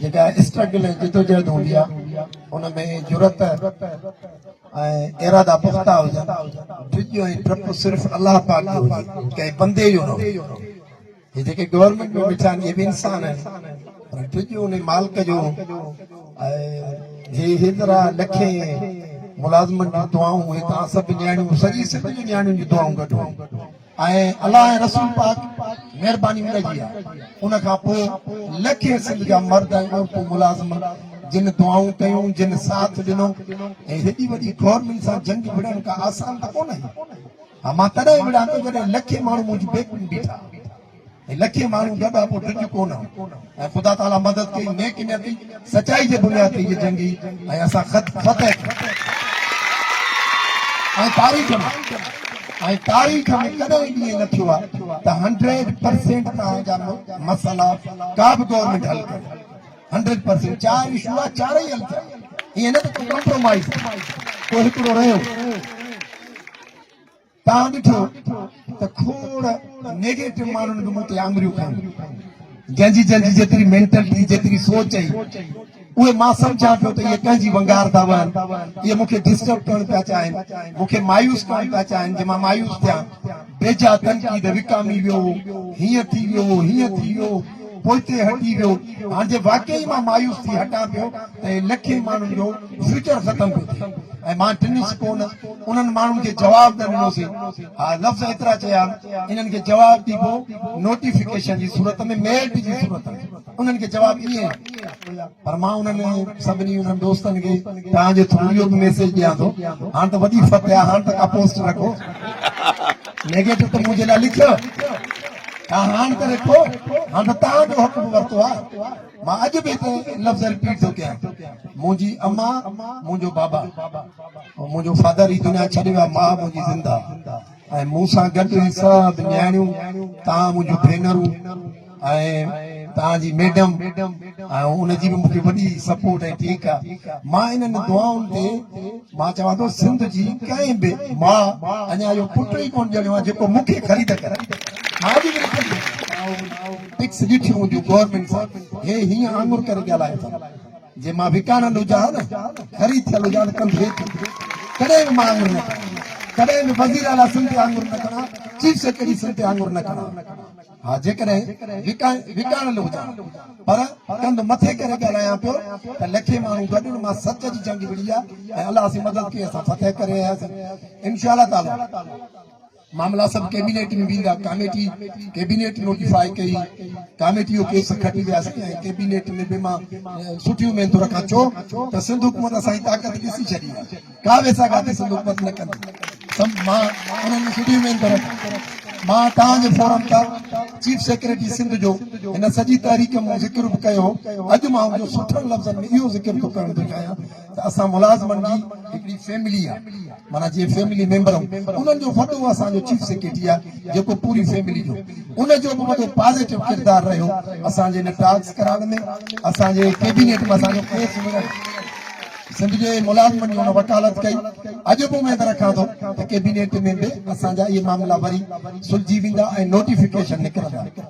جيڪا اسٽرگل ۽ جدوجهد هوندي آ ان ۾ جرئت ۽ ارادا پختا هجن ڊڄ ۽ ڊپ صرف الله پاڪ جو هجي ڪنهن بندي جو نه هجي جيڪي گورنمينٽ ۾ ويٺا آهن اهي به انسان آهن پر ڊڄ ان مالڪ جو هي هيترا لکين ملازمن جون دعائون هي توهان سڀ نياڻيون سڄي سنڌ جون نياڻيون جون دعائون گڏ هيون ۽ الله ۽ رسول پاڪ مھرباني ان جي آ ان کان پوء لکين سنڌ جا مرد ۽ عورتون ملازمن جن دعائون ڪيون جن ساٿ ڏنو ۽ ھيڏي وڏي گورنمينٽ سان جنگ وڙھڻ ڪا آسان ته ڪونه ھئي ھا مان تڏھن ئي وڙھان ٿو جڏھن لکين ماڻھو منھنجي بيڪ ۾ بيٺا ۽ لکين ماڻهو ڳاڙهاپو ڊڄ ڪونه ۽ خدا تعالي مدد ڪئي نيڪ نيتي سچائي جي بنياد تي هيء جنگ هئي ۽ اسان خط فتح ٿي ۽ تاريخ ۾ ۽ تاريخ ۾ ڪڏهن به ائين نه ٿيو آهي ته هنڊريڊ پرسينٽ توهان جا مسئلا ڪا به گورنمينٽ حل ڪري هنڊريڊ پرسينٽ چار اشو آهي چار ئي حل ٿيا ائين نه ته ڪمپرومائز ڪو هڪڙو رهيو توهان ڏٺو ته کوڙ نيگيٽو ماڻهن به مون تي آڱريون کڻيون جنهن جي جنهن جي جيتري مينٽلٽي جيتري سوچ هئي اهي مان سمجهان پيو ته اهي ڪنهن جي ونگار ٿا وهن اهي مون کي ڊسٽرب ڪرڻ پيا چاهين مون کي مايوس ڪرڻ پيا چاهين جي مان مايوس ٿيان بيجا تنقيد وڪامي ويو هو هيئن ٿي ويو هو هيئن ٿي ويو هو پوئتي هٽي ويو، هاڻ جي واقعي مان مايوس ٿي هٽان پيو ته هي لکين ماڻهن جو فيوچر ختم پيو ٿئي ۽ مان ٽنهي سڪون انهن ماڻهن کي جواب نه ڏنو سي. ها لفظ ايترا چيا آهن، انهن کي جواب ڏبو نوٽيفڪيشن جي صورت ۾ ميلٽ جي صورت ۾ انهن کي جواب ڏئي ها پر مان انهن سڀني انهن دوستن کي توهان جي ٿرو اهو به ميسيج ڏيان ٿو هاڻ ته وڏي فتح آهي هاڻ ته ڪا پوسٽ نه ڪو نيگيٽو ته منهنجي لاء لکيو. ها هاڻ ته رکو هاڻ ته تان جو حق به ورتو آ مان اڄ به هڪ لفظ رپيٽ ٿو ڪيان منهنجي اما منهنجو بابا منهنجو فادر هي دنيا ڇڏي ويا ما منهنجي زنده ۽ مون سان گڏ هي سڀ نياڻيون تان منهنجو ڀينرون ۽ تان جي ميڊم ۽ ان جي به مونکي وڏي سپورٽ ۽ ٺيڪ آ مان انهن دعائن تي مان چوان ٿو سنڌ جي ڪنهن به ماء اڃان اهو پٽ ئي ڪونه ڄڻيو آهي جيڪو مون کي خريد ڪري ماء جي وري خريد پڪس ڏٺيون هونديون گورنمينٽ سان هي هيئن آڱر ڪري ڳالهائي ٿو جي مان وڪاڻل هجان نه خريد ٿيل هجان ته ڪنڌ هيٺ ڪڏهن به مان آڱر نه ڪريان ڪڏهن به وزير اعليٰ سنڌ تي آڱر نه کڻان چيف سيڪريٽري سنڌ تي آڱر نه کڻان ها جيڪڏهن وڪاڻيل هجان پر ڪنڌ مٿي ڪري ڳالهايان پيو ته لکين ماڻهو گڏن مان سچ جي جنگ وڙهي آ ۽ الله سين مدد ڪئي اسان فتح ڪري آياسين انشاء الله تعالي. معاملا سڀ ڪيبينيٽ ۾ ويندا ڪاميٽي ڪيبينيٽ نوٽيفاء ڪئي ڪاميٽي اهو ڪيس کٽي وياسين ۽ ڪيبينيٽ ۾ به مان سٺيون اميدون رکان ڇو ته سنڌ حڪومت اسان جي طاقت ڏسي ڇڏي آهي ڪا به سا گاتي سنڌو پت نه ڪندي سم مان انهن جي سٺي اميد ٿو رکان مان توهان جي فورم تان چيف سيڪريٽري سنڌ جو هن سڄي تحريڪ ۾ ذڪر به ڪيو هو اڄ مان ان جو سٺن لفظن ۾ اهو ذڪر ٿو ڪرڻ ٿو چاهيان ته اسان ملازمن جي هڪڙي فيملي آهي مانا جي فيملي ميمبر انهن جو وڏو اسان جو چيف سيڪريٽري آهي جيڪو پوري فيملي جو ان جو به وڏو پازيٽو ڪردار رهيو اسان جي ان ٽاڪس ڪرائڻ ۾ اسان جي ڪيبينيٽ ۾ اسان جو ڪيس ملڻ سنڌ جي ملازمن جي هن وڪالت ڪئي، اڄ به اميد رکان ٿو ته ڪيبينيٽ ۾ به اسان جا اهي معاملا وري سلجهي ويندا ۽ نوٽيفڪيشن نڪرندا.